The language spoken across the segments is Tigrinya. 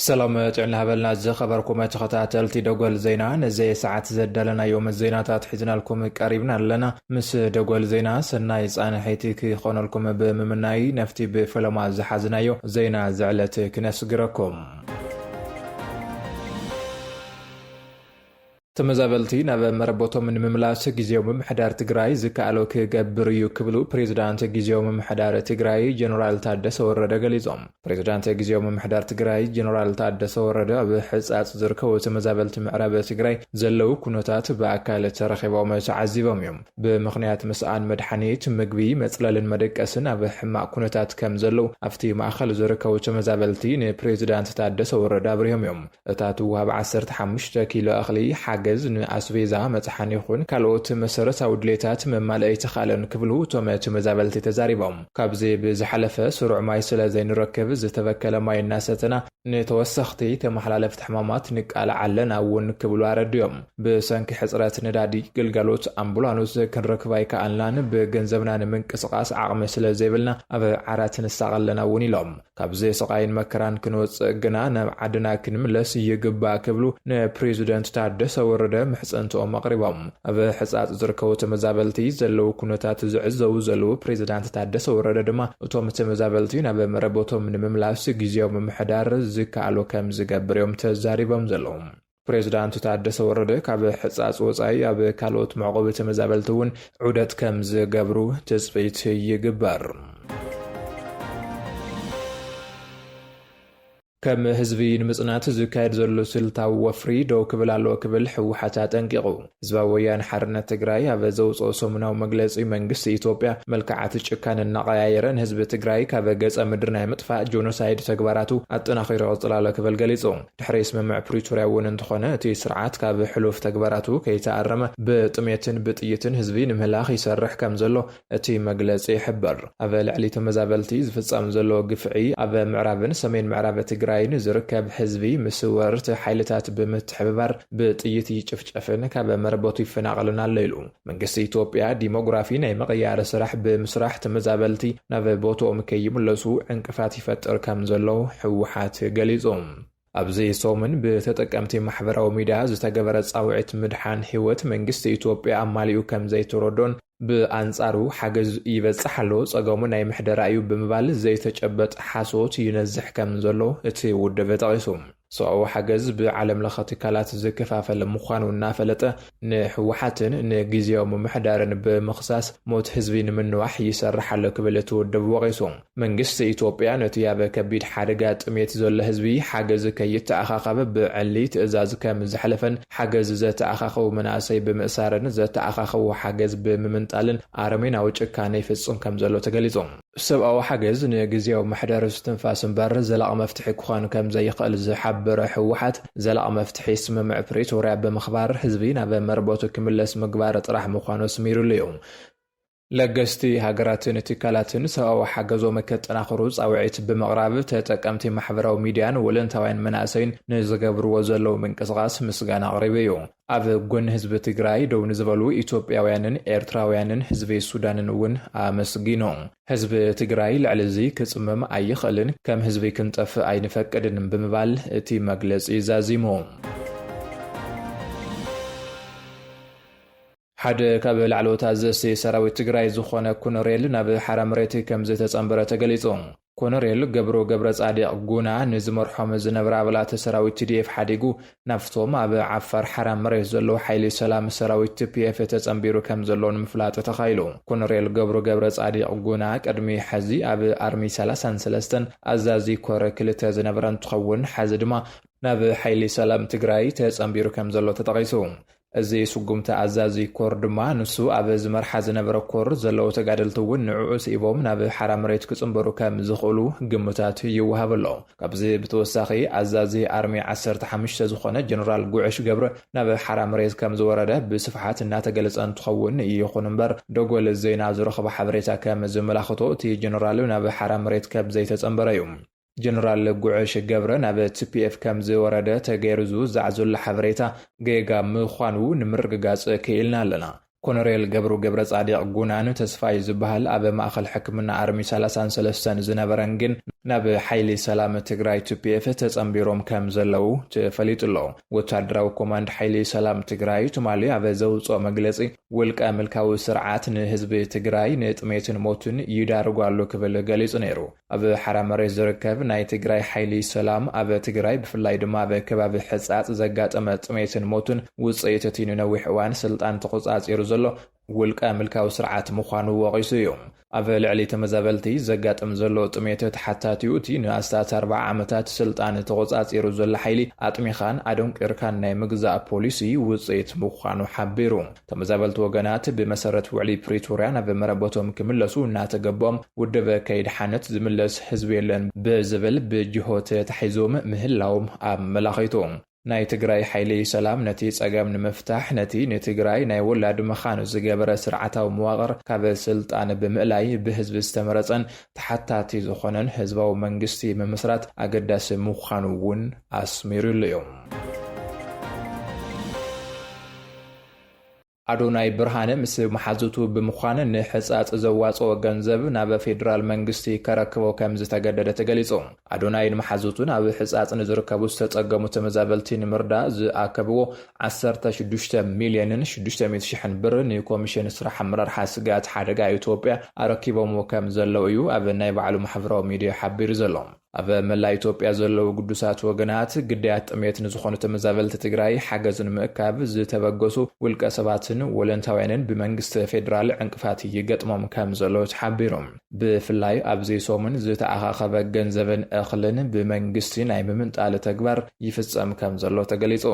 ሰላም ጥዕና ሃበልና ዝኸበርኩም ተኸታተልቲ ደጎል ዜና ነዘየ ሰዓት ዘዳለናዮም ዜናታት ሒዝናልኩም ቀሪብና ኣለና ምስ ደጎል ዜና ሰናይ ፃንሒቲ ክኾነልኩም ብምምናይ ነፍቲ ብፈለማ ዝሓዝናዮ ዜና ዝዕለት ክነስግረኩም ተመዛበልቲ ናብ መረቦቶም ንምምላስ ግዜያዊ ምምሕዳር ትግራይ ዝከኣሎ ክገብር እዩ ክብሉ ፕሬዚዳንት ግዜያዊ ምምሕዳር ትግራይ ጀነራል ታደሰ ወረደ ገሊፆም። ፕሬዚዳንት ግዜያዊ ምምሕዳር ትግራይ ጀነራል ታደሰ ወረደ ኣብ ሕፃፅ ዝርከቡ ተመዛበልቲ ምዕራብ ትግራይ ዘለው ኩነታት ብኣካል ተረኺቦም ተዓዚቦም እዮም። ብምኽንያት ምስኣን መድሓኒት፣ ምግቢ፣ መፅለልን መደቀስን ኣብ ሕማቕ ኩነታት ከምዘለዉ ኣብቲ ማእኸል ዝርከቡ ተመዛበልቲ ንፕሬዚዳንት ታደሰ ወረደ ኣብሪሆም እዮም። እታ ትወሃብ ዓሰርተ ሓሙሽተ ኪሎ እኽሊ ሓገዝ ንኣስቤዛ፣ መፅሓኒ ይኹን ካልኦት መሰረታዊ ድሌታት ምማልእ ኣይተኽኣለን ክብሉ እቶም ተመዛበልቲ ተዛሪቦም። ካብዚ ብዝሓለፈ ስሩዕ ማይ ስለዘይንረክብ ዝተበከለ ማይ እናሰተና ንተወሰኽቲ ተመሓላለፍቲ ሕማማት ንቃላዕ ኣለና እውን ክብሉ ኣረዲኦም። ብሰንኪ ሕፅረት ነዳዲ ግልጋሎት ኣምቡላኑስ ክንረክብ ኣይከኣልናን፣ ብገንዘብና ንምንቅስቓስ ዓቕሚ ስለዘይብልና ኣብ ዓራት ንሳቐ ኣለና እውን ኢሎም። ካብዚ ስቓይን መከራን ክንወፅእ ግና ናብ ዓድና ክንምለስ ይግባእ ክብሉ ንፕሬዚደንት ታደሰ ወረደ ምሕፅንትኦም ኣቕሪቦም። ኣብ ሕፃፅ ዝርከቡ ተመዛበልቲ ዘለዉ ኩነታት ዝዕዘቡ ዘለዉ ፕሬዚዳንት ታደሰ ወረደ ድማ እቶም ተመዛበልቲ ናብ መረበቶም ንምምላስ ጊዜያዊ ምምሕዳር ዝከኣሎ ከምዝገብር እዮም ተዛሪቦም ዘለዉ። ፕሬዚዳንት ታደሰ ወረደ ካብ ሕፃፅ ወፃኢ ኣብ ካልኦት መዕቖቢ ተመዛበልቲ እውን ዑደት ከምዝገብሩ ትፅቢት ይግበር። ከም ህዝቢ ንምጽናት ዝካየድ ዘሎ ስልታዊ ወፍሪ ደው ክብል ኣለዎ ክብል ህወሓት ኣጠንቂቑ። ህዝባዊ ወያነ ሓርነት ትግራይ ኣብ ዘውጽኦ ሰሙናዊ መግለጺ፣ መንግስቲ ኢትዮጵያ መልክዓት ጭካነ እናቐያየረ ንህዝቢ ትግራይ ካብ ገጸ ምድሪ ናይ ምጥፋእ ጆኖሳይድ ተግባራቱ ኣጠናኺሩ ይቕጽል ኣሎ ክብል ገሊጹ። ድሕሪ ስምምዕ ፕሪቶርያ እውን እንተኾነ እቲ ስርዓት ካብ ሕሉፍ ተግባራቱ ከይተኣረመ ብጥሜትን ብጥይትን ህዝቢ ንምህላኽ ይሰርሕ ከምዘሎ እቲ መግለፂ ይሕብር። ኣብ ልዕሊ ተመዛበልቲ ዝፍፀም ዘሎ ግፍዒ ኣብ ምዕራብን ሰሜን ምዕራብ ትግራይን ዝርከብ ህዝቢ ምስ ወረርቲ ሓይልታት ብምትሕብባር ብጥይት ይጭፍጨፍን ካብ መረበቱ ይፈናቐልን ኣሎ ኢሉ። መንግስቲ ኢትዮጵያ ዲሞግራፊ ናይ ምቕያር ስራሕ ብምስራሕ ተመዛበልቲ ናብ ቦትኦም ከይምለሱ ዕንቅፋት ይፈጥር ከምዘሎ ህወሓት ገሊፁ። ኣብዚ ሰሙን ብተጠቀምቲ ማሕበራዊ ሚድያ ዝተገበረ ፃውዒት ምድሓን ህይወት መንግስቲ ኢትዮጵያ ኣማሊኡ ከምዘይተረዶን ብኣንፃሩ ሓገዝ ይበፅሕ ኣሎ ፀገሙ ናይ ምሕደራ እዩ ብምባል ዘይተጨበጥ ሓሶት ይነዝሕ ከምዘሎ እቲ ውድብ ጠቒሱ። ሰብኣዊ ሓገዝ ብዓለም ለኸ ትካላት ዝከፋፈል ምዃኑ እናፈለጠ ንህወሓትን ንጊዝያዊ ምምሕዳርን ብምኽሳስ ሞት ህዝቢ ንምንዋሕ ይሰርሕ ኣሎ ክብል እቲ ውድብ ወቒሱ። መንግስቲ ኢትዮጵያ ነቲ ኣብ ከቢድ ሓደጋ ጥሜት ዘሎ ህዝቢ ሓገዝ ከይተኣኻኸብ ብዕሊ ትእዛዝ ከም ዘሕለፈን ሓገዝ ዘተኣኻኸቡ መናእሰይ ብምእሳርን ዘተኣኻኸቡ ሓገዝ ብምምንጣልን ኣረሜናዊ ጭካነ ይፍፅም ከም ዘሎ ተገሊፁ። ሰብኣዊ ሓገዝ ንግዝያዊ ምሕደር እስትንፋስ እምበር ዘላቒ መፍትሒ ክኾን ከም ዘይኽእል ዝሓበረ ህወሓት፣ ዘላቒ መፍትሒ ስምምዕ ፕሪቶርያ ብምኽባር ህዝቢ ናብ መረበቱ ክምለስ ምግባር ጥራሕ ምዃኑ ኣስሚሩሉ እዩ። ለገስቲ ሃገራትን ትካላትን ሰብኣዊ ሓገዞም ከጠናኽሩ ጻውዒት ብምቕራብ ተጠቀምቲ ማሕበራዊ ሚድያን ወለንታውያን መናእሰይን ንዝገብርዎ ዘለዉ ምንቅስቓስ ምስጋና ኣቕሪቡ እዩ። ኣብ ጎኒ ህዝቢ ትግራይ ደው ንዝበሉ ኢትዮጵያውያንን ኤርትራውያንን ህዝቢ ሱዳንን እውን ኣመስጊኑ። ህዝቢ ትግራይ ልዕሊ እዚ ክጽምም ኣይኽእልን፣ ከም ህዝቢ ክንጠፍእ ኣይንፈቅድን ብምባል እቲ መግለጺ ዛዚሙ። ሓደ ካብ ላዕለዎት ኣዘዝቲ ሰራዊት ትግራይ ዝኾነ ኮነሬል ናብ ሓራ መሬት ከምዝተፀምበረ ተገሊፁ። ኮነሬል ገብሩ ገብረፃዲቕ ጉና ንዝመርሖም ዝነበረ ኣባላት ሰራዊት ቲዲኤፍ ሓዲጉ ናብቶም ኣብ ዓፋር ሓራ መሬት ዘለዉ ሓይሊ ሰላም ሰራዊት ቲፒኤፍ ተፀምቢሩ ከምዘሎ ንምፍላጥ ተኻኢሉ። ኮነሬል ገብሩ ገብረፃዲቕ ጉና ቅድሚ ሐዚ ኣብ ኣርሚ ሰላሳን ሰለስተን ኣዛዚ ኮር ክልተ ዝነበረ እንትኸውን ሐዚ ድማ ናብ ሓይሊ ሰላም ትግራይ ተፀምቢሩ ከምዘሎ ተጠቒሱ። እዚ ስጉምቲ ኣዛዚ ኮር ድማ ንሱ ኣብ ዝመርሓ ዝነበረ ኮር ዘለዉ ተጋደልቲ እውን ንዕዑ ስኢቦም ናብ ሓራ መሬት ክጽንበሩ ከም ዝኽእሉ ግምታት ይወሃብ ኣሎ። ካብዚ ብተወሳኺ ኣዛዚ ኣርሚ ዓሰርተ ሓሙሽተ ዝኾነ ጀነራል ጉዕሽ ገብረ ናብ ሓራ መሬት ከም ዝወረደ ብስፍሓት እናተገለጸ እንትኸውን ይኹን እምበር ደጎል ዜና ዝረኽቦ ሓበሬታ ከም ዘመላኽቶ እቲ ጀነራል ናብ ሓራ መሬት ከም ዘይተጸንበረ እዩ። ጀነራል ጉዕሽ ገብረ ናብ ቲፒኤፍ ከም ዝወረደ ተገይሩ ዝውዛዕ ዘሎ ሓበሬታ ጌጋ ምዃኑ ንምርግጋጽ ክኢልና ኣለና። ኮነሬል ገብሩ ገብረጻዲቕ ጉናን ተስፋይ ዝበሃል ኣብ ማእኸል ሕክምና ኣርሚ ሰላሳን ሰለስተን ዝነበረን ግን ናብ ሓይሊ ሰላም ትግራይ ቲፒኤፍ ተጸንቢሮም ከም ዘለዉ ተፈሊጡ ኣሎ። ወታደራዊ ኮማንድ ሓይሊ ሰላም ትግራይ ትማሊ ኣብ ዘውጽኦ መግለጺ ውልቀ ምልካዊ ስርዓት ንህዝቢ ትግራይ ንጥሜትን ሞትን ይዳርጎ ኣሎ ክብል ገሊጹ ነይሩ። ኣብ ሓራ መሬት ዝርከብ ናይ ትግራይ ሓይሊ ሰላም ኣብ ትግራይ ብፍላይ ድማ ኣብ ከባቢ ሕፃፅ ዘጋጠመ ጥሜትን ሞትን ውፅኢት እቲ ንነዊሕ እዋን ስልጣን ተቖፃፂሩ ዘሎ ውልቀ ምልካዊ ስርዓት ምዃኑ ወቒሱ እዩ። ኣብ ልዕሊ ተመዛበልቲ ዘጋጥም ዘሎ ጥሜት ተሓታቲኡ እቲ ንኣስታት ኣርብዓ ዓመታት ስልጣን ተቖፃፂሩ ዘሎ ሓይሊ ኣጥሚኻን ኣደንቂርካን ናይ ምግዛእ ፖሊሲ ውፅኢት ምዃኑ ሓቢሩ። ተመዛበልቲ ወገናት ብመሰረት ውዕሊ ፕሪቶርያ ናብ መረበቶም ክምለሱ እናተገቦም ውድብ ከይድሓነት ዝምለስ ህዝቢ የለን ብዝብል ብጅሆ ተታሒዞም ምህላዎም ኣመላኺቱ። ናይ ትግራይ ሓይሊ ሰላም ነቲ ፀገም ንምፍታሕ ነቲ ንትግራይ ናይ ወላድ መኻን ዝገበረ ስርዓታዊ መዋቕር ካብ ስልጣን ብምእላይ ብህዝቢ ዝተመረፀን ተሓታቲ ዝኾነን ህዝባዊ መንግስቲ ምምስራት ኣገዳሲ ምዃኑ እውን ኣስሚሩሉ እዩ። ኣዶናይ ብርሃነ ምስ መሓዙቱ ብምዃን ንሕፃፅ ዘዋፅኦ ገንዘብ ናብ ፌዴራል መንግስቲ ከረክቦ ከምዝተገደደ ተገሊፁ። ኣዶናይን መሓዙቱን ኣብ ሕፃፅ ንዝርከቡ ዝተፀገሙ ተመዛበልቲ ንምርዳእ ዝኣከብዎ ዓሰርተ ሽዱሽተ ሚሊየንን ሽዱሽተ ሚእቲ ሽሕን ብር ንኮሚሽን ስራሕ ኣመራርሓ ስግኣት ሓደጋ ኢትዮጵያ ኣረኪቦምዎ ከምዘለው እዩ ኣብ ናይ ባዕሉ ማሕበራዊ ሚዲያ ሓቢሩ ዘሎ። ኣብ መላእ ኢትዮጵያ ዘለዉ ግዱሳት ወገናት፣ ግዳያት ጥሜት ንዝኾኑ ተመዛበልቲ ትግራይ ሓገዝ ንምእካብ ዝተበገሱ ውልቀ ሰባትን ወለንታውያንን ብመንግስቲ ፌዴራል ዕንቅፋት ይገጥሞም ከምዘሎ ተሓቢሩ። ብፍላይ ኣብዚ ሰሙን ዝተኣኻኸበ ገንዘብን እኽልን ብመንግስቲ ናይ ምምንጣል ተግባር ይፍፀም ከምዘሎ ተገሊፁ።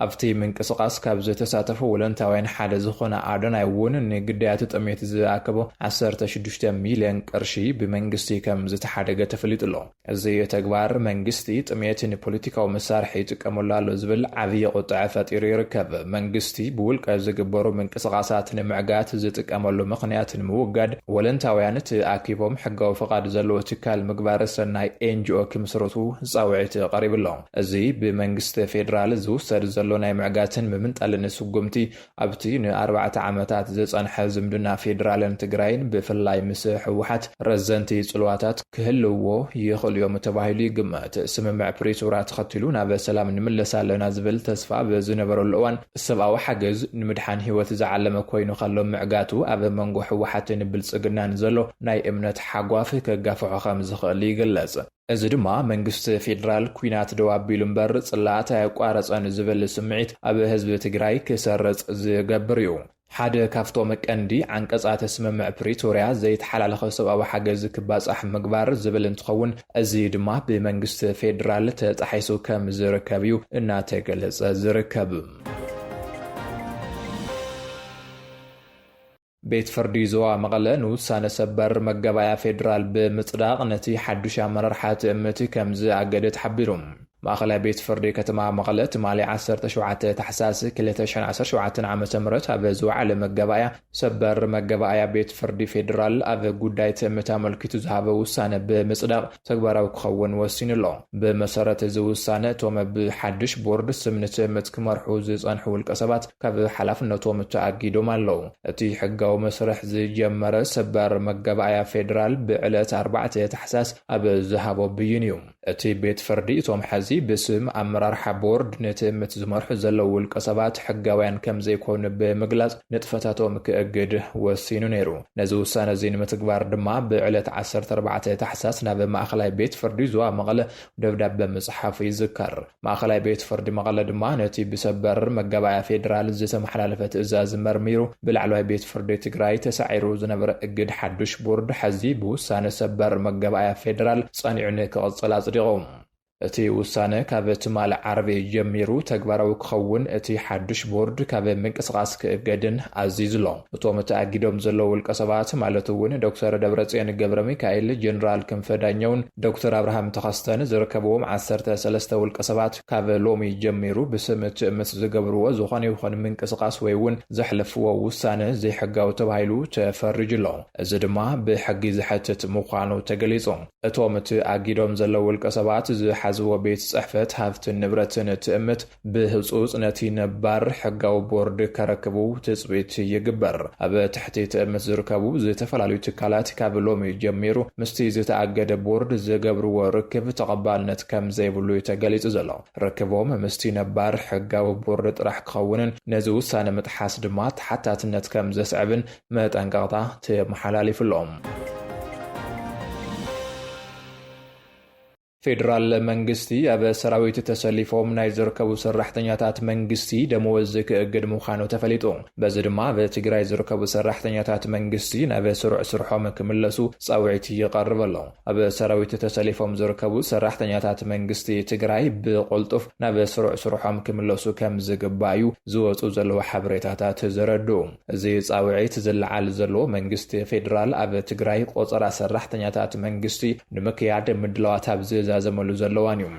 ኣብቲ ምንቅስቓስ ካብ ዝተሳተፉ ወለንታውያን ሓደ ዝኾነ ኣዶናይ እውን ንግዳያቱ ጥሜት ዝኣከቦ ዓሰርተ ሽዱሽተ ሚልዮን ቅርሺ ብመንግስቲ ከም ዝተሓደገ ተፈሊጡ ኣሎ። እዚ ተግባር መንግስቲ ጥሜት ንፖለቲካዊ መሳርሒ ይጥቀመሉ ኣሎ ዝብል ዓብዪ ቁጠዐ ፈጢሩ ይርከብ። መንግስቲ ብውልቀ ዝግበሩ ምንቅስቓሳት ንምዕጋት ዝጥቀመሉ ምኽንያት ንምውጋድ ወለንታውያን ተኣኪቦም ሕጋዊ ፍቓድ ዘለዎ ትካል ምግባረ ሰናይ፣ ኤንጅኦ፣ ክምስርቱ ፃውዒት ቀሪቡ ኣሎ። እዚ ብመንግስቲ ፌደራል ዝውሰድ ዘሎ ናይ ምዕጋትን ምምንጣልን ስጉምቲ፣ ኣብቲ ንኣርባዕተ ዓመታት ዝጸንሐ ዝምድና ፌደራልን ትግራይን ብፍላይ ምስ ህወሓት ረዘንቲ ጽልዋታት ክህልውዎ ይኽእሉ'ዮም ተባሂሉ ይግመት። ስምምዕ ፕሪቶርያ ተኸቲሉ ናብ ሰላም ንምለስ ኣለና ዝብል ተስፋ ኣብ ዝነበረሉ እዋን፣ ሰብኣዊ ሓገዝ ንምድሓን ህይወት ዝዓለመ ኮይኑ ከሎ ምዕጋቱ ኣብ መንጎ ህወሓትን ብልጽግናን ዘሎ ናይ እምነት ሓጓፍ ከጋፍሖ ከምዝኽእል ይግለጽ። እዚ ድማ መንግስቲ ፌዴራል ኲናት ደው ኣቢሉ እምበር ፅላኣት ኣየቋረፀን ዝብል ስምዒት ኣብ ህዝቢ ትግራይ ክሰርፅ ዝገብር እዩ። ሓደ ካብቶም ቀንዲ ዓንቀፃት ስምምዕ ፕሪቶርያ ዘይተሓላለኸ ሰብኣዊ ሓገዝ ክባፃሕ ምግባር ዝብል እንትኸውን እዚ ድማ ብመንግስቲ ፌዴራል ተጣሒሱ ከም ዝርከብ እዩ እናተገለፀ ዝርከብ። ቤት ፍርዲ ዞባ መቐለ ንውሳነ ሰበር መጋባእያ ፌዴራል ብምፅዳቕ ነቲ ሓዱሽ ኣመራርሓ ትእምት ከም ዝኣገደ ተሓቢሩ። ማእኸላይ ቤት ፍርዲ ከተማ መቐለ ትማሊ ዓሰርተ ሸውዓተ ታሕሳስ ክልተ ሽሕን ዓሰርተ ሸውዓተን ዓመተ ምህረት ኣብ ዝወዓለ መጋባእያ ሰበር መጋባእያ ቤት ፍርዲ ፌዴራል ኣብ ጉዳይ ትእምት ኣመልኪቱ ዝሃቦ ውሳነ ብምፅዳቕ ተግባራዊ ክኸውን ወሲኑ ኣሎ። ብመሰረት እዚ ውሳነ እቶም ብሓድሽ ቦርድ ስም ንትእምት ክመርሑ ዝጸንሑ ውልቀሰባት ካብ ሓላፍነቶም ተኣጊዶም ኣለዉ። እቲ ሕጋዊ መስርሕ ዝጀመረ ሰበር መጋባእያ ፌደራል ብዕለት ኣርባዕተ ታሕሳስ ኣብ ዝሃቦ ብይን እዩ። እቲ ቤት ፍርዲ እቶም ሐዚ ብስም ኣመራርሓ ቦርድ ንትእምት ዝመርሑ ዘለዉ ውልቀሰባት ሕጋውያን ከምዘይኮኑ ብምግላጽ ንጥፈታቶም ክእግድ ወሲኑ ነይሩ። ነዚ ውሳነ እዚ ንምትግባር ድማ ብዕለት ዓሰርተ ኣርባዕተ ታሕሳስ ናብ ማእኸላይ ቤት ፍርዲ ዞባ መቐለ ደብዳበ ምፅሓፉ ይዝከር። ማእኸላይ ቤት ፍርዲ መቐለ ድማ ነቲ ብሰበር መጋባእያ ፌዴራል ዝተመሓላለፈ ትእዛዝ መርሚሩ ብላዕለዋይ ቤት ፍርዲ ትግራይ ተሳዒሩ ዝነበረ እግድ ሓዱሽ ቦርድ ሐዚ ብውሳነ ሰበር መጋባእያ ፌዴራል ፀኒዑ ንክቕፅል ኣፅዲቑ። እቲ ውሳነ ካብ ትማል ዓርቢ ጀሚሩ ተግባራዊ ክኸውን እቲ ሓዱሽ ቦርድ ካብ ምንቅስቓስ ክእገድን ኣዚዙ'ሎ። እቶም ተኣጊዶም ዘለዉ ውልቀሰባት ማለት እውን ዶክተር ደብረጽዮን ገብረሚካኤል፣ ጀነራል ክንፈ ዳኘውን ዶክተር ኣብርሃም ተኸስተን ዝርከብዎም ዓሰርተ ሰለስተ ውልቀሰባት ካብ ሎሚ ጀሚሩ ብስም ትእምት ዝገብርዎ ዝኾነ ይኹን ምንቅስቓስ ወይ እውን ዘሕለፍዎ ውሳነ ዘይሕጋዊ ተባሂሉ ተፈሪጁ'ሎ። እዚ ድማ ብሕጊ ዘሕትት ምዃኑ ተገሊጹ። እቶም እቲ ኣጊዶም ዘለዉ ውልቀሰባት ዝሓዝዎ ቤት ጽሕፈት ሃፍትን ንብረትን ትእምት ብህጹጽ ነቲ ነባር ሕጋዊ ቦርድ ከረክቡ ትጽቢት ይግበር። ኣብ ትሕቲ ትእምት ዝርከቡ ዝተፈላለዩ ትካላት ካብ ሎሚ ጀሚሩ ምስቲ ዝተኣገደ ቦርድ ዝገብርዎ ርክብ ተቐባልነት ከም ዘይብሉ እዩ ተገሊጹ ዘሎ። ርክቦም ምስቲ ነባር ሕጋዊ ቦርድ ጥራሕ ክኸውንን ነዚ ውሳነ ምጥሓስ ድማ ተሓታትነት ከም ዘስዕብን መጠንቀቕታ ተመሓላሊፉ ኣሎ። ፌደራል መንግስቲ ኣብ ሰራዊት ተሰሊፎም ናይ ዝርከቡ ሰራሕተኛታት መንግስቲ ደመወዝ ክእግድ ምዃኑ ተፈሊጡ። በዚ ድማ ኣብ ትግራይ ዝርከቡ ሰራሕተኛታት መንግስቲ ናብ ስሩዕ ስርሖም ክምለሱ ፃውዒት ይቐርብ ኣሎ። ኣብ ሰራዊት ተሰሊፎም ዝርከቡ ሰራሕተኛታት መንግስቲ ትግራይ ብቕልጡፍ ናብ ስሩዕ ስርሖም ክምለሱ ከምዝግባእ እዩ ዝወፅኡ ዘለዉ ሓበሬታታት ዘረድኡ። እዚ ፃውዒት ዝለዓል ዘሎ መንግስቲ ፌዴራል ኣብ ትግራይ ቆፀራ ሰራሕተኛታት መንግስቲ ንምክያድ ምድላዋት ኣብ ዝዛዘመሉ ዘሎ እዋን እዩ።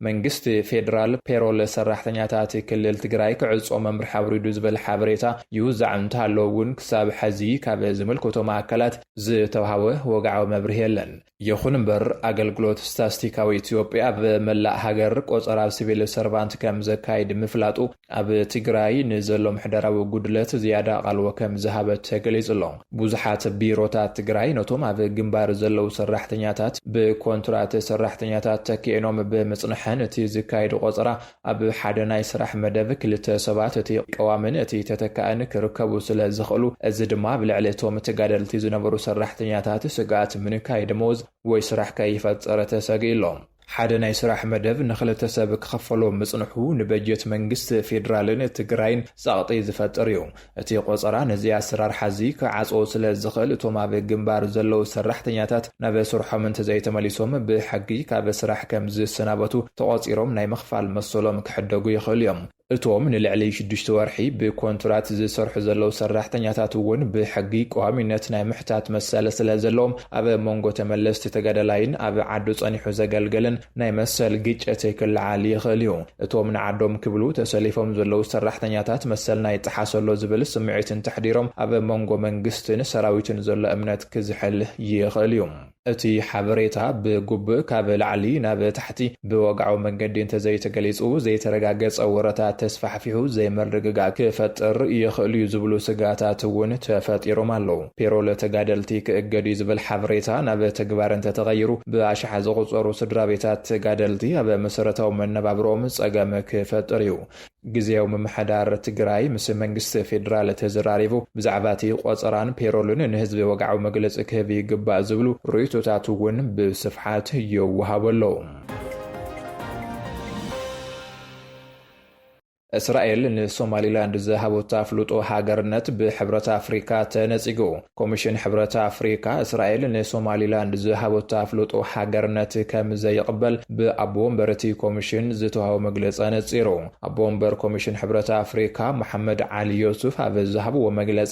መንግስቲ ፌዴራል ፔሮል ሰራሕተኛታት ክልል ትግራይ ክዕፆ መምርሒ ኣውሪዱ ዝብል ሓበሬታ ይውዛዕ እንተሃለወ እውን ክሳብ ሐዚ ካብ ዝምልከቶም ኣካላት ዝተውሃበ ወግዓዊ መብርሂ የለን። ይኹን እምበር ኣገልግሎት ስታስቲካዊ ኢትዮጵያ ኣብ መላእ ሃገር ቆፀራ ሲቪል ሰርቫንት ከም ዘካይድ ምፍላጡ ኣብ ትግራይ ንዘሎ ምሕደራዊ ጉድለት ዝያዳ ኣቓልቦ ከም ዝሃበ ተገሊጹ ኣሎ። ብዙሓት ቢሮታት ትግራይ ነቶም ኣብ ግንባር ዘለዉ ሰራሕተኛታት ብኮንትራት ሰራሕተኛታት ተኪኤኖም ብምጽንሐን እቲ ዝካየድ ቆፀራ ኣብ ሓደ ናይ ስራሕ መደብ ክልተ ሰባት እቲ ቀዋምን እቲ ተተካእን ክርከቡ ስለ ዝኽእሉ፣ እዚ ድማ ኣብ ልዕሊ እቶም ተጋደልቲ ዝነበሩ ሰራሕተኛታት ስግኣት ምንካይ ደመወዝ ወይ ስራሕ ከይፈጠረ ተሰጊኡ ኣሎ። ሓደ ናይ ስራሕ መደብ ንኽልተ ሰብ ክኽፈሎ ምጽንሑ ንበጀት መንግስቲ ፌደራልን ትግራይን ጸቕጢ ዝፈጥር እዩ። እቲ ቆጸራ ነዚ ኣሰራርሓ'ዚ ክዓጽዎ ስለ ዝኽእል፣ እቶም ኣብ ግንባር ዘለዉ ሰራሕተኛታት ናብ ስርሖም እንተዘይተመሊሶም ብሕጊ ካብ ስራሕ ከም ዝሰናበቱ ተቖጺሮም ናይ ምኽፋል መሰሎም ክሕደጉ ይኽእሉ እዮም። እቶም ንልዕሊ ሽዱሽተ ወርሒ ብኮንትራት ዝሰርሑ ዘለዉ ሰራሕተኛታት እውን ብሕጊ ቀዋሚነት ናይ ምሕታት መሰል ስለ ዘለዎም ኣብ መንጎ ተመለስቲ ተጋዳላይን ኣብ ዓዱ ጸኒሑ ዘገልገልን ናይ መሰል ግጨት ክለዓል ይኽእል እዩ። እቶም ንዓዶም ክብሉ ተሰሊፎም ዘለዉ ሰራሕተኛታት መሰልና ይጠሓስ ኣሎ ዝብል ስምዒት እንተሕዲሮም ኣብ መንጎ መንግስትን ሰራዊትን ዘሎ እምነት ክዝሕል ይኽእል እዩ። እቲ ሓበሬታ ብጉብእ ካብ ላዕሊ ናብ ታሕቲ ብወግዓዊ መንገዲ እንተዘይተገሊጹ ዘይተረጋገጸ ወረታት ተስፋሕፊሑ ዘይምርግጋእ ክፈጥር ይኽእል'ዩ ዝብሉ ስግኣታት እውን ተፈጢሮም ኣለዉ። ፔሮል ተጋደልቲ ክእገድ'ዩ ዝብል ሓበሬታ ናብ ተግባር እንተተቐይሩ፣ ብኣሽሓት ዝቑጸሩ ስድራቤታት ተጋደልቲ ኣብ መሰረታዊ መነባብሮኦም ጸገም ክፈጥር'ዩ። ግዝያዊ ምምሕዳር ትግራይ ምስ መንግስቲ ፌደራል ተዘራሪቡ ብዛዕባ'ቲ ቆጸራን ፔሮልን ንህዝቢ ወግዓዊ መግለጺ ክህብ ይግባእ ዝብሉ ርእይቶታት'ውን ብስፍሓት ይወሃቡ ኣለዉ። እስራኤል ንሶማሊላንድ ዝሃቦት ኣፍልጦ ሃገርነት ብሕብረት ኣፍሪካ ተነፂጉ። ኮሚሽን ሕብረት ኣፍሪካ እስራኤል ንሶማሊላንድ ዝሃቦት ኣፍልጦ ሃገርነት ከም ዘይቕበል ብኣቦ ወንበር እቲ ኮሚሽን ዝተውሃቦ መግለፂ ኣነፂሩ። ኣቦ ወንበር ኮሚሽን ሕብረት ኣፍሪካ መሓመድ ዓሊ ዮሱፍ ኣብ ዝሃብዎ መግለፂ፣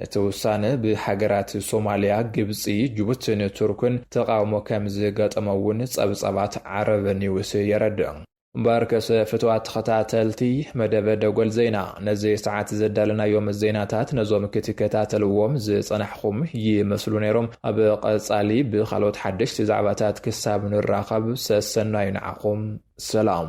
እቲ ውሳነ ብሃገራት ሶማልያ፣ ግብጺ፣ ጅቡቲን ቱርክን ተቓውሞ ከም ዝገጠሞ'ውን ጸብጻባት ዓረብ ኒውስ የረድእ። እምበኣርከስ ፍቱዋት ተኸታተልቲ መደብ ደጎል ዜና፣ ነዚ ሰዓት ዘዳለናዮም ዜናታት ነዞም ክትከታተልዎም ዝጸናሕኹም ይመስሉ ነይሮም። ኣብ ቀጻሊ ብኻልኦት ሓደሽቲ ዛዕባታት ክሳብ ንራኸብ ሰሰናዩ ንዓኹም። ሰላም።